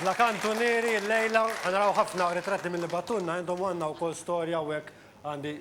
Bla kantunieri llejla ħa naraw ħafna ritratti milli bagħtulna għandhom u għandna wkoll storja hawnhekk għandi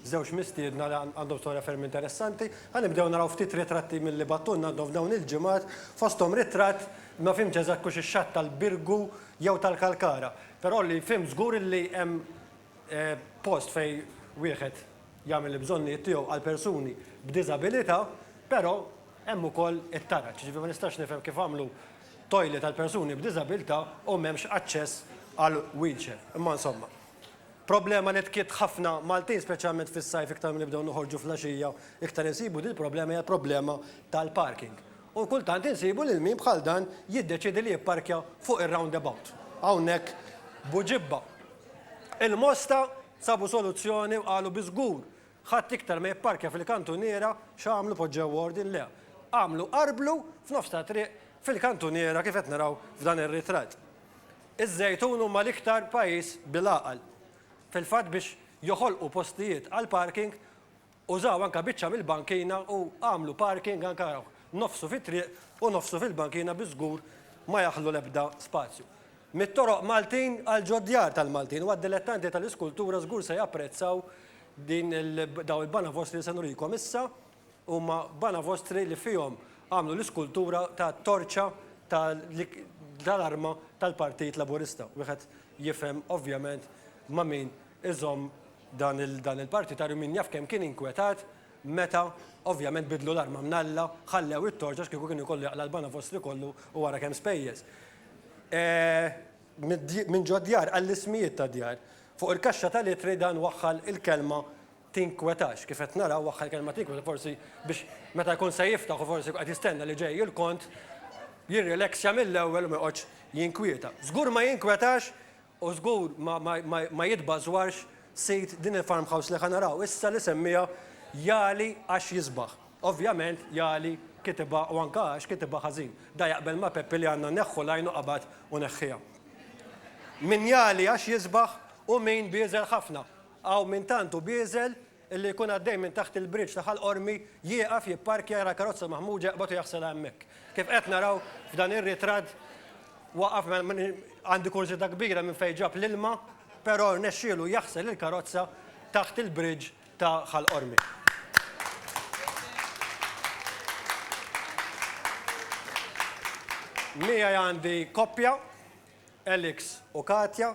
żewġ mistiedna li għandhom storja ferm interessanti. Ħa nibdew naraw ftit ritratti milli bagħtulna għandhom f'dawn il-ġimgħat, fosthom ritratt, ma fhimtx eżatt kux ix-xatt tal-Birgu jew tal-Kalkara. Però li fhimt żgur li hemm post fejn wieħed jagħmel il-bżonnijiet tiegħu għal persuni b'diżabilità, però hemm ukoll it-taraġ. Jiġifieri ma nistax nifhem kif għamlu toilet għal persuni b'diżabilità u m'hemmx aċċess għal wheelchair. Imma insomma. Problema li tkitt ħafna Maltin speċjalment fis-sajf iktar milli nibdew noħorġu fl-għaxija iktar insibu din il-problema hija l-problema tal-parking. U kultant insibu lil min bħal dan jiddeċiedi li jipparkja fuq ir-roundabout. Hawnhekk Buġibba. Il-Mosta sabu soluzzjoni u qalu bi żgur Ħadd iktar ma jipparkja fil-kantuniera x'għamlu poġġew ordin le, għamlu qarblu f'nofs ta' triq fil-kantuniera kif qed naraw f'dan ir-ritratt. Iż-Żejtun huma l-iktar pajjiż bil-għaqal. Fil-fatt biex joħolqu postijiet għall-parking użaw anke biċċa mill-bankina u għamlu parking anke nofsu fit-triq u nofsu fil-bankina bi żgur ma jaħlu l-ebda spazju. Mit-toroq Maltin għal ġod-djar tal-Maltin u għad-dilettanti tal-iskultura żgur se japprezzaw din il dawn il-banavostri li se nurikom issa huma banavostri li fihom għamlu l-iskultura ta' torċa ta' li tal-arma tal-Partit Laburista. Wieħed jifhem ovvjament ma' min iżomm dan il dan il-partitarju, min jaf kemm kien inkwetat meta, ovvjament, biddlu l-arma minn Alla, ħallew it-torċ għax kieku kien ikollu jaqla' l-bana fostri kollu u ara kemm spejjeż. Minn ġod-djar għall-ismijiet tad-djar. Fuq il-kaxxa tal-ittri dan waħħal il-kelma Tinkwetax. Kif qed naraw, waħħal il-kelma Tinkwetax forsi biex meta jkun se jiftaħ u forsi jkun qed jistenna li ġej il-kont, jirrilexxja mill-ewwel u ma joqgħodx jinkwieta. Żgur ma jinkwetax U żgur ma jitbażwarx sid din il-farmhouse li ħa naraw issa li semmiha Jali għax jisbaħ. Ovvjament Jali kitibha u anke għax kitibha ħażin. Da jaqbel ma' Peppi li għandna neħħu l-għajn u qabad u neħħiha. Min jali għax jisbaħ u min bieżel ħafna. Hawn min tant hu bieżel Illi jkun għaddej minn taħt il-bridge ta' Ħal Qormi, jieqaf, jipparkja, jara l-karozza maħmuġa, jaqbad u jaħsilha hemmhekk. Kif qed naraw f'dan ir-ritratt, waqaf, għandi kurżità kbira minn fejn ġab l-ilma, però rnexxielu jaħsel il-karozza taħt il-bridge ta' Ħal Qormi. Miegħi għandi koppja, Alex u Katja,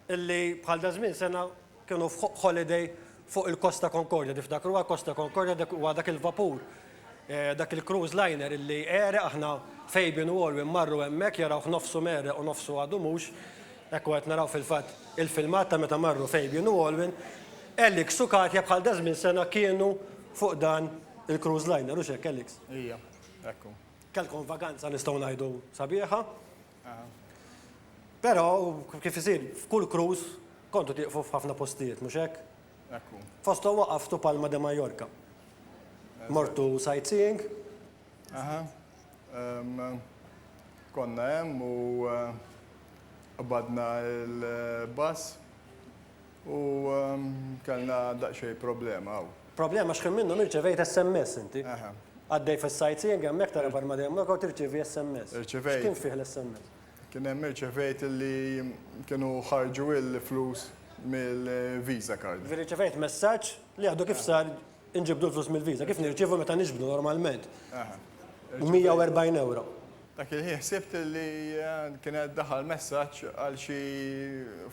illi bħal daż-żmien sena kienu f'holiday fuq il-Costa Concordia. Tiftakru għal Costa Concordia dak huwa dak il-vapur, dak il-cruise liner illi għereq aħna Fabian u Alwyn marru hemmhekk jarawh nofsu mgħerreq u nofsu għadu mhux. Hekk u qed naraw fil-fatt il-filmat ta' meta marru Fabian u Alwyn. Alex u Katja bħal daż-żmien sena kienu fuq dan il-cruise liner, hux hekk Alex? Ija, hekk hu. Kellkom vaganza nistgħu ngħidu sabiħa. Però, kif isir f'kull cruise, kontu tieqfu f'ħafna postijiet, mhux hekk? Hekk hu. Fosthom waqaftu Palma de Mallorca. Mortu sightseeing? Aha. Konna hemm u qbadna l-bus. U kellna daqsxejn problema hawn. Problema għax ħin minnhom irċevejt SMS inti. Għaddej fis-sightseeing hemmhekk tara bħalma dejjem lok u tirċievi SMS. Irċevejt. X'kien fih l-SMS? Kien hemm irċevejt li kienu ħarġu l-flus mill-Visa card. Irċevejt messaġġ li għadu kif sar Inġibdu l-flus mill-Visa, kif nirċievu meta niġbdu normalment? 140 ewro. Dak il-ħin ħsibt li kien qed daħal messaġġ għal xi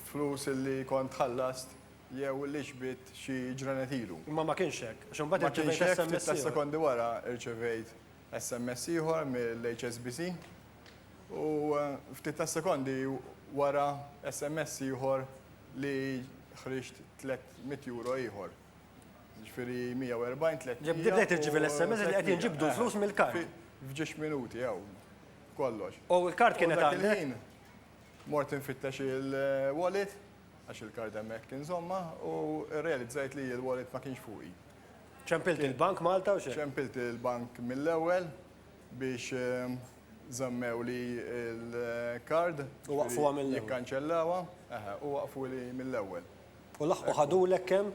flus li kont ħallast jew li xbidt xi ġranet ilu. Imma ma kienx hekk, għax imbagħad irċevejt SMS ieħor. Ftit sekondi wara rċevejt SMS ieħor mill-HSBC u ftit sekondi wara SMS ieħor li ħriġt 300 ewro ieħor. Jiġifieri 140, 300. Ġib bdejt irċievi l-SMS li qed jinġibdu l-flus mill-kard. F'ġiex minuti hawn kollox. U l-kard kienet għandek? U dak il-ħin mort infittex il-wallet, għax il-kard hemmhekk inżommha, u rrealizzajt li l-wallet ma kienx fuqi. Ċempilt il-bank Malta u xejn? Ċempilt il-bank mill-ewwel biex żammewli l-kard. U waqqfuha mill-ewwel. Jikkanċellawha, eħe, u waqqfuli mill-ewwel. U laħqu ħadulek kemm?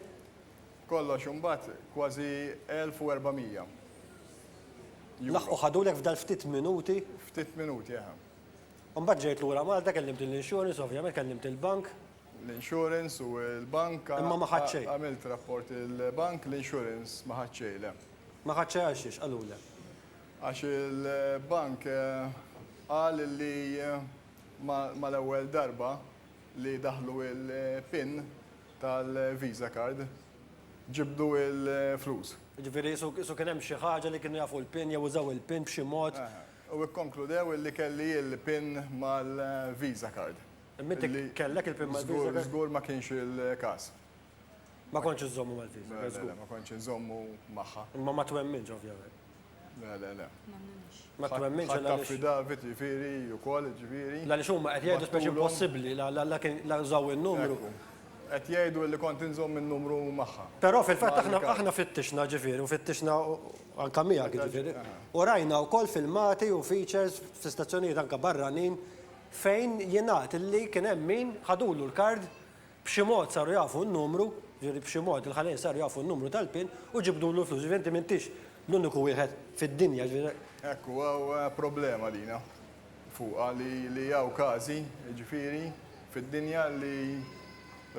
Kollox imbagħad kważi 1,400 Euro. Laħqu ħadulek f'dal ftit minuti? Ftit minuti, eħe. U mbagħad ġejt lura Malta, kellimt lill-insurance, ovvjament, kellimt il-bank. L-insurance u l-bank. Imma ma ħadt xejn. Għamilt rapport il-bank, l-insurance ma ħadt xejn, le. Ma ħadd xejn għal xiex, qalulek? Għax il-bank qal li ma l-ewwel darba. li daħlu il-pin tal-visa card ġibdu il-flus. Jiġifieri qisu kien hemm xi ħaġa li kienu jafu l-pin jew użaw il-pin b'xi mod. U ikkonkludew illi kelli il-pin mal-visa card. Imma inti kellek il-pin mal-visa card? Żgur, żgur ma kienx il-każ. Ma kontx iżżommu mal-visa card, żgur. Le, le, ma kontx inżommu magħha. Imma ma twemminx ovvjament. Le, le, le. M'emminhiex. Ma twemminx Ħadd għaliex. affi David, jiġifieri, ukoll, jiġifieri. Għaliex huma qed jgħidu speċi Battulhom. impossibbli, la, la, la kien, la użaw in-numru. Ekku. Qed jgħidu li kont inżomm in-numru magħha. Però fil-fatt aħna, Mal-kap. aħna fittixna, ġifieri, u fittixna u, u anke miegħek, jiġifieri. Aha. U rajna wkoll filmati u features fi stazzjonijiet anke barranin fejn jingħad li kien hemm min ħadulu l-card B'xi mod saru jafu n-numru, jiġifieri b'xi mod il-ħalejn saru jafu n-numru tal-pin u ġibdulu l-flus, jiġifieri inti m'intix l-uniku wieħed fid-dinja, jiġifieri. Hekk hu hawn problema lina fuqha li li hawn każi, jiġifieri fid-dinja li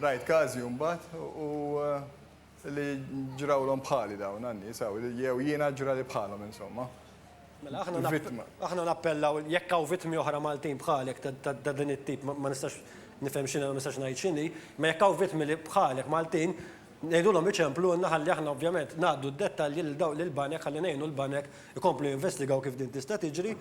rajt każi u mbagħad u. Li ġrawlhom bħali dawn għan-nies hawn, jew jiena ġrali bħalhom insomma. Mela aħna nappellaw jekk hawn vittmi oħra Maltin bħalek ta' din it-tip ma nistax nifhem x'inhi u ma nistax ngħid x'inhi, imma jekk hawn vittmi li bħalek Maltin, ngħidulhom iċemplulna ħalli aħna ovvjament ngħaddu d-dettalji lil dawn lill-banek ħalli ngħinu l-banek ikomplu jinvestigaw kif din tista' tiġri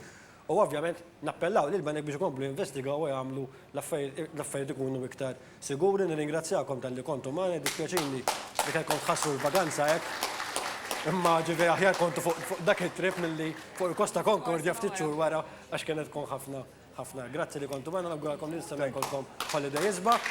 U ovvjament nappellaw lill-banek biex ikomplu jinvestigaw u jagħmlu l-affarijiet ikunu iktar siguri. Nirringrazzjakom talli kontu magħna, jiddispjaċini li kellkom tħassru l-vaganza hekk. Imma ġifieri aħjar kontu fuq dak it-trip milli fuq il-Costa Concordia ftit xhur wara għax kienet tkun ħafna ħafna. Grazzi li kontu magħna, nawguralkom li nistennew ikollkom holiday isbaħ.